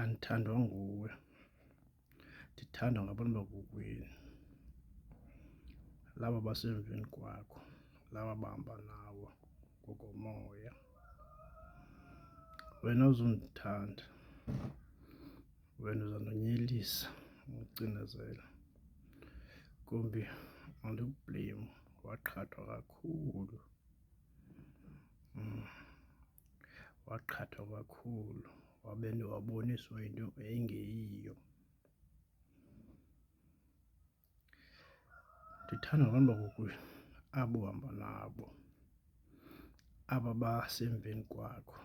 andithandwa nguwe ndithandwa ngabantu bakokwenu laba basemveni kwakho laba bahamba nawo ngokomoya wena uzundithanda wena uzandonyelisa ucinezela kumbi andikublame waqhathwa kakhulu mm. waqhathwa kakhulu wabe waboniswa into engeyiyo. Ndithanda abantu bakokwenu abo uhamba nabo, aba basemveni kwakho,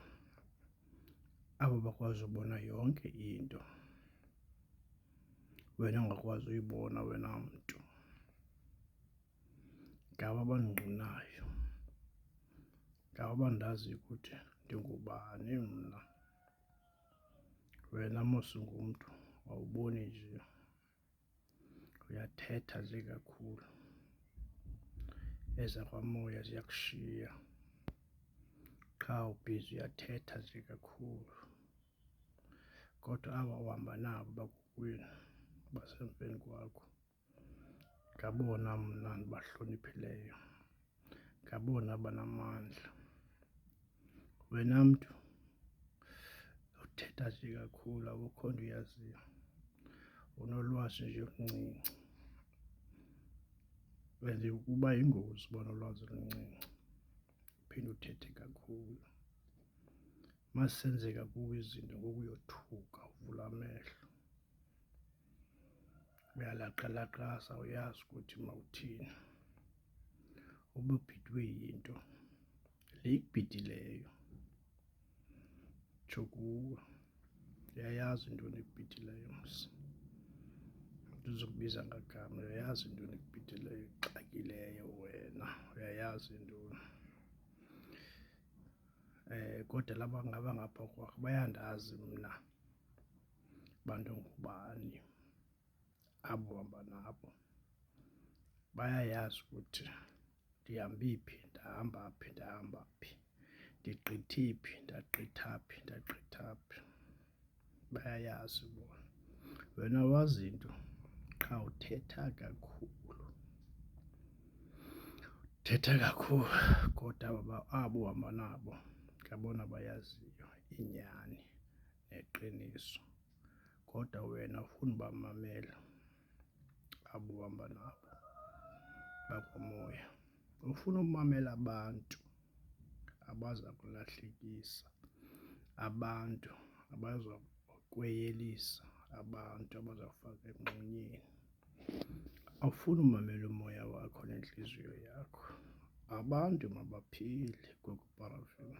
aba bakwazi ubona yonke into wena ongakwazi uyibona wena mntu. ngabo abandingqinayo, ngabo abandaziyo ukuthi ndingubani mna. Wena mos ungumntu awuboni nje, uyathetha nje kakhulu, ezakwamoya ziyakushiya qha ubhizi uyathetha nje kakhulu. Kodwa aba uhamba nabo bakokwenu basemveni kwakho. ngabona mna ndibahloniphileyo, ngabona banamandla. Wena mntu uthetha nje kakhulu akukho nto uyaziyo, unolwazi nje oluncinci and uba yingozi uba nolwazi oluncinci uphinde uthethe kakhulu. Uma zisenzeka kuwe izinto ngoku uyothuka uvule amehlo. uyalaqalaqasa uyazi ukuthi mawuthini ube ubhidwe yinto le ikubhidileyo tsho kuwe uyayazi into enibhidhileyo msi ndizokubiza ngagama uyayazi into enibhidhileyo ixakileyo wena uyayazi intoni um eh, kodwa laba ngaba ngapha kwakho bayandazi mna bantu ngubani abo uhamba nabo. Bayayazi ukuthi ndihambephi, phi, ndahamba phi, ndahamba phi, ndigqithe phi, ndagqitha phi, ndagqitha phi. Bayayazi bona. Wena wazi into qha uthetha kakhulu, uthetha kakhulu kodwa abo uhamba nabo ngabona bayaziyo inyani. neqiniso kodwa wena ufuna ubamamela abo uhamba nabo bakomoya. Ufuna umamela abantu abaza kulahlekisa, abantu abaza kweyelisa, abantu abaza kufaka emngxunyeni. Awufuni umamela umoya wakho nentliziyo yakho. Abantu mabaphile kweParafini.